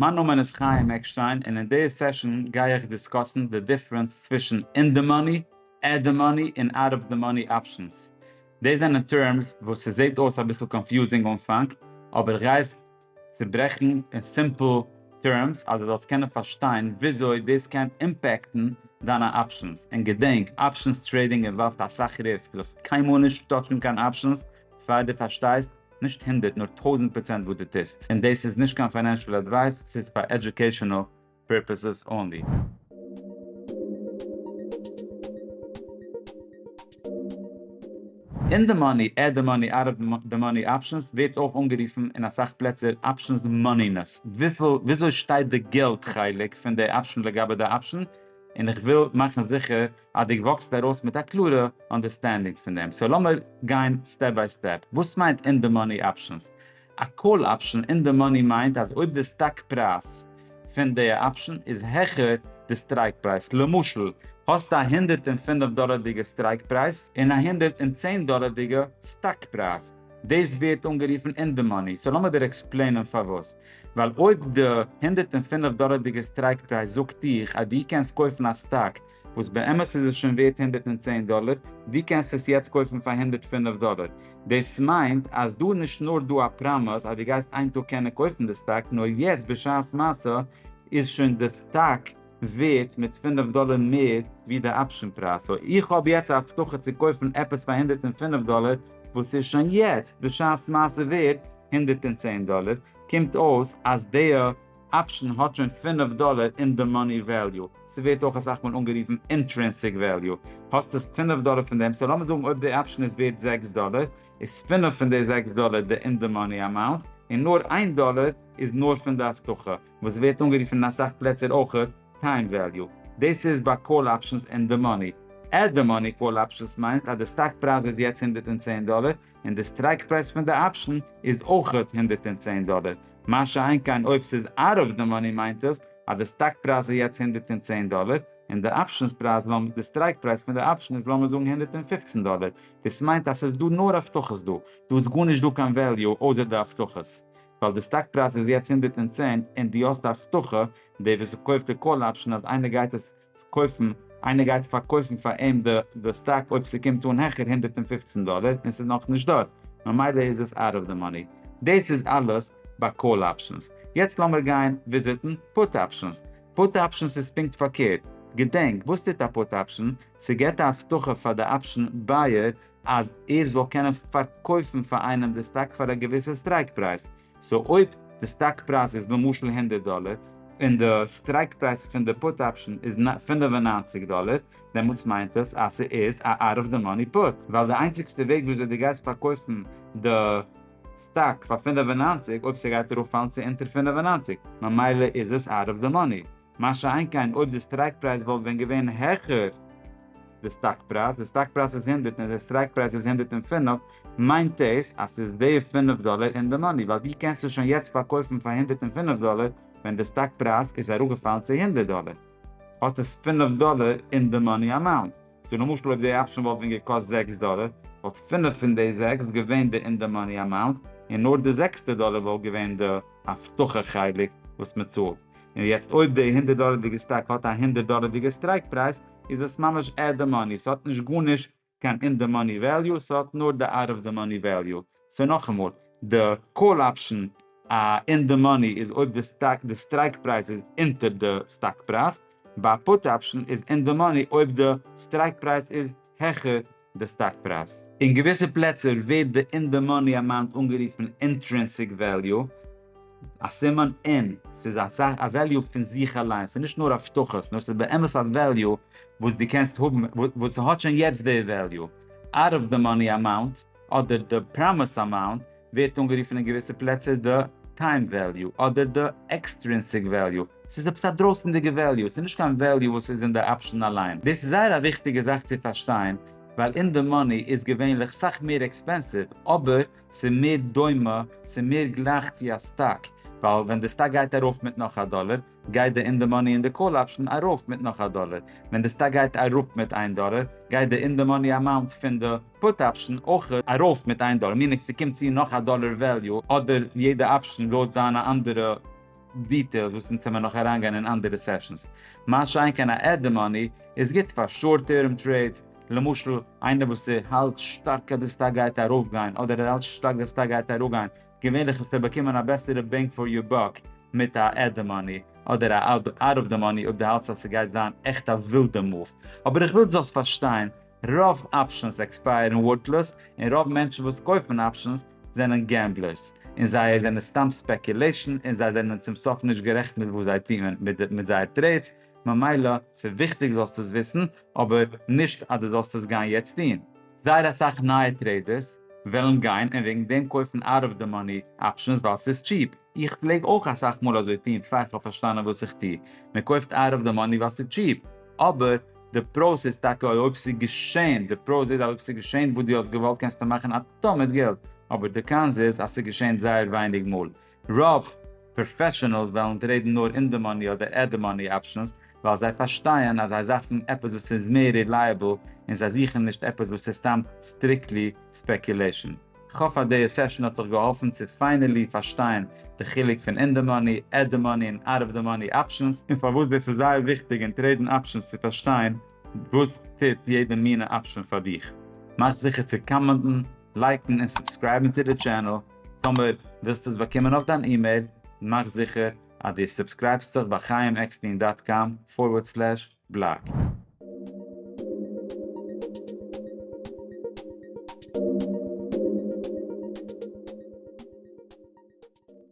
מיין נאמען איז חיים עקשטיין און אין די סעשאן גיי איך דיסקאסן די דיפרענס צווישן אין די מאני, עט די מאני און אוט אוו די מאני אפשענס. דאס זענען טערמס וואס ס'זעט אויס אביסל קאנפיוזינג אנפאנג אבער איך גיי עס צוברעכן אין סימפל טערמס אז דו זאלסט קענען פארשטיין וויאזוי דאס קען אימפעקטן דיינע אפשענס. און געדענק, אפשענס טרעידינג אינוואלווט אסאך ריסק, זאלסט קיינמאל נישט טאטשן קיין אפשענס פאר דו פארשטייסט נישט הונדערט נאר טויזענט פראצענט וואס דו טוסט, און דאס איז נישט קיין פיינענשעל עדווייס, ס'איז פאר עדזשוקעישאנעל פירפעסעס אנלי. אין די מאני, עד די מאני, אאוט אוו די מאני אפשענס ווערט אויך אנגערופן אין אסאך פלעצער אפשענס מאנינעס, וויפיל וויאזוי שטייט די געלט חלק פון די אפשען לגבי די אפשען, און איך וויל מאכן זיכער אז די וואקסט ארויס מיט א קלארע אנדערסטענדינג פון דעם. סאו לאמיר גיין סטעפ ביי סטעפ. וואס מיינט אין די מאני אפשענס? א קאל אפשען אין די מאני מיינט אז אויב די סטאק פרייז פון די אפשען איז העכער די סטרייק פרייז, למשל האסט א הונדערט און פֿינף דאלערדיגע סטרייק פרייז און א הונדערט און צען דאלערדיגע סטאק פרייז, דאס ווערט אנגערופן אין די מאני. סאו לאמיר דיר עקספלעינען פארוואס. ווייל אויב די הונדערט און פֿינף דאלערדיגע סטרייק פרייז זאגט דיך אז דו קענסט קויפן א סטאק וואס באמת איז עס שוין ווערט הונדערט און צען דאלער, ווי קענסטו עס יעצט קויפן פאר הונדערט פֿינף דאלער? דאס מיינט אז דא איז נישט נאר דא א פראמעס אז דו גייסט איין טאג קענען קויפן די סטאק, נאר יעצט בשעת מעשה איז שוין די סטאק ווערט מיט פֿינף דאלער מער ווי די אפשען פרייז, סאו איך האב יעצט א הבטחה צו קויפן עפעס פאר הונדערט און פֿינף דאלער וואס איז שוין יעצט בשעת מעשה ווערט הונדערט און צען דאלער, קומט אויס אז די. אפשן האט שוין פֿינף דאלער אין די מאני וועליו, ס'ווערט אויך אסאך מאל אנגערופן אינטרענסיק וועליו, האסט עס פֿינף דאלער פון דעם, סאו לאמיר זאגן אויב די אפשן איז ווערט זעקס דאלער, איז פֿינף פון די זעקס דאלער די אין די מאני אמאונט, און נאר איין דאלער איז נאר פון די הבטחה, וואס ווערט אנגערופן אין אסאך פלעצער אויך טיים וועליו. דאס איז ביי קאל אפשנס אין די מאני. עט די מאני קאל אפשנס מיינט אז די סטאק פרייז איז יעצט הונדערט און צען דאלער, און די סטרייק פרייז פון די אפשן איז אויך הונדערט און צען דאלער, מה שאין כן אויב ס'איז אאוט אוו די מאני מיינט עס אז די סטאק פרייז איז יעצט הונדערט און צען דאלער און די אפשנס פרייז לאמ די סטרייק פרייז פון די אפשן איז לאמיר זאגן הונדערט און פֿופֿצן דאלער, דאס מיינט אז ס'איז דא נאר הבטחות דא, דא איז גארנישט דא קיין וועליו אויסער די הבטחות, ווייל די סטאק פרייז איז יעצט הונדערט און צען און דו האסט א הבטחה, דער וואס קויפט די קאל אפשן אז איינער גייט עס. קויפן, איינער גייט פארקויפן פאר אים די סטאק אויב ס'קומט אן העכער הונדערט און פֿופֿצן דאלער און ס'איז נאכנישט דארט, ממילא איז עס אוט אוו די מאני. דאס איז אלעס ביי קאל אפשענס. יעצט לאמיר גיין וויזיטן פוט אפשענס. פוט אפשענס איז פונקט פארקערט. געדענק, וואס טוט א פוט אפשען? ס'געבט א הבטחה פאר די אפשען בייער אז ער זאל קענען פארקויפן פאר איינעם די סטאק פאר א געוויסע סטרייק פרייז. סאו אויב די סטאק פרייז איז למשל הונדערט דאלער, און די סטרייק פרייז פון די פוט אפשען איז פֿינף און נײַנציק דאלער, דעמאלטס מיינט עס אז ס'איז א אוט אוו די מאני פוט, ווייל די איינציגסטע וועג וויאזוי די גייסט פארקויפן די סטאק פאר פֿינף און נײַנציק, אויב ס'גייט ארויפפאלן צו אונטער פֿינף און נײַנציק, ממילא איז עס אוט אוו די מאני. מה שאין כן אויב די סטרייק פרייז וואלט ווען געווען העכער די סטאק פרייז, די סטאק פרייז איז הונדערט און די סטרייק פרייז איז הונדערט און פֿינף, מיינט עס אז ס'איז די פֿינף דאלער אין די מאני, ווייל ווי קענסטו שוין יעצט פארקויפן פאר הונדערט און פֿינף דאלער ווען די סטאק פרייז איז אראפגעפאלן צו הונדערט דאלער? האט עס פֿינף דאלער אין די מאני אמאונט. סאו למשל אויב די אפשען וואלט ווען געקאסט זעקס דאלער, וואלט פֿינף פון די זעקס געווען די אין די מאני אמאונט, און נאר די זעקסטע דאלער וואלט געווען די הבטחה חלק וואס מ'צאלט. און יעצט אויב די הונדערט דאלערדיגע סטאק האט א הונדערט דאלערדיגע סטרייק פרייז איז עס ממש עט די מאני, ס'האט נישט גארנישט קיין אין די מאני וועליו, ס'האט נאר די אוט אוו די מאני וועליו. סאו נאכאמאל, די קאל אפשן א אין די מאני איז אויב די סטאק די סטרייק פרייז איז אונטער די סטאק פרייז, ביי א פוט אפשן איז אין די מאני אויב די סטרייק פרייז איז העכער די סטאק פרייז. אין געוויסע פלעצער ווערט די אין די מאני אמאונט אנגערופן אינטרינסיק וועליו, א סימן אין, ס'איז א זאך א וועליו פון זיך אליין, ס'איז נישט נאר הבטחות, נאר ס'איז באמת א וועליו וואס דו קענסט האבן, וואס ס'האט שוין יעצט די וועליו, אוט אוו די מאני אמאונט, אדער די פראמיס אמאונט, ווערט אנגערופן אין געוויסע פלעצער די טיים וועליו אדער די עקסטרינסיק וועליו, ס'איז עפעס א דרויסענדיגע וועליו, ס'איז נישט קיין וועליו וואס איז אין די אפשען אליין, דאס איז זייער א וויכטיגע זאך צו פארשטיין, ווייל אין די מאני איז געווענליך סאך מער עקספענסיוו, אבער ס'איז מער דומה, ס'איז מער גלייך צו א סטאק, ווייל ווען די סטאק גייט ארויף מיט נאך א דאלער, גייט די אין די מאני אין די קאל אפשן ארויף מיט נאך א דאלער, ווען די סטאק גייט אראפ מיט איין דאלער, גייט די אין די מאני אמאונט פון די פוט אפשן אויך ארויף מיט איין דאלער, מינינג ס'קומט צו נאך א דאלער וועליו, אדער יעדע אפשן לויט זיינע אנדערע דיטעילס וואס אונז העמער נאך אריינגיין אין אנדערע סעשאנס. מה שאין כן א עט די מאני איז גוט פאר שארט טערם טרעידס, למשל איינער וואס ער האלט שטארק אז די סטאק גייט ארויפגיין אדער ער האלט שטארק די סטאק גייט אראפגיין, געווענליך וועסטו באקומען א בעסערע בענג פאר יור באק מיט א עד דע מאני אדער א אד אוט אוו דע מאני אויב דו האלטסט אז ס'גייט זיין עכט א ווילדע מאוו. אבער איך וויל דו זאלסט פארשטיין, רוב אפשענס עקספייערן ווארטלאז און רוב מענטשן וואס קויפן אפשענס זענען געמבלערס און זיי זענען סתם ספעקולעישן און זיי זענען צום סוף נישט גערעכט מיט וואס זיי טוען מיט זייער טרעידס, ממילא ס'איז וויכטיג זאלסט עס וויסן, אבער נישט אז דו זאלסט עס גיין יעצט טון. זייער אסאך נייע טרעידערס וועלן גיין און וועגן דעם קויפן אאוט אוו די מאני אפשענס ווייל ס'איז טשיפ, איך פלעג אויך אסאך מאל אזוי טון פאר איך האב פארשטאנען וואס איך טו, מען קויפט אאוט אוו די מאני ווייל ס'איז טשיפ, אבער די פראוס איז טאקע אויב ס'איז געשען, די פראוס איז אז אויב ס'איז געשען וואס דו האסט געוואלט קענסטו מאכן א טאן מיט געלט, אבער די קאנס איז אז ס'איז געשען זייער ווייניג מאל, רוב פראפעשענעלס וועלן טרעידן נאר אין די מאני אדער עט די מאני אפשענס ווייל זיי פארשטייען אז זיי זאכן עפעס וואס איז מער רילייעבל און זיי זוכן נישט עפעס וואס איז סתם סטריקלי ספעקולעישן. כ'האף אז די סעשן האט דיך געהאלפן צו פיינעלי פארשטיין די חילוק פון אין די מאני, עט די מאני און אוט אוו די מאני אפשענס, און פארוואס דאס איז זייער וויכטיג אין טרעידן אפשענס צו פארשטיין וואס טוט יעדע מינע אפשען פאר דיך. מאך זיכער צו קאמענטן. לייקן און סובסקרייבן צו די טשענעל, טאמער ווילסט עס באקומען אויף דיין אימעיל, מאך זיכער אז דו סובסקרייבסט זיך ביי חיים עקסטין דאט קאם פארווערד סלעש בלאג.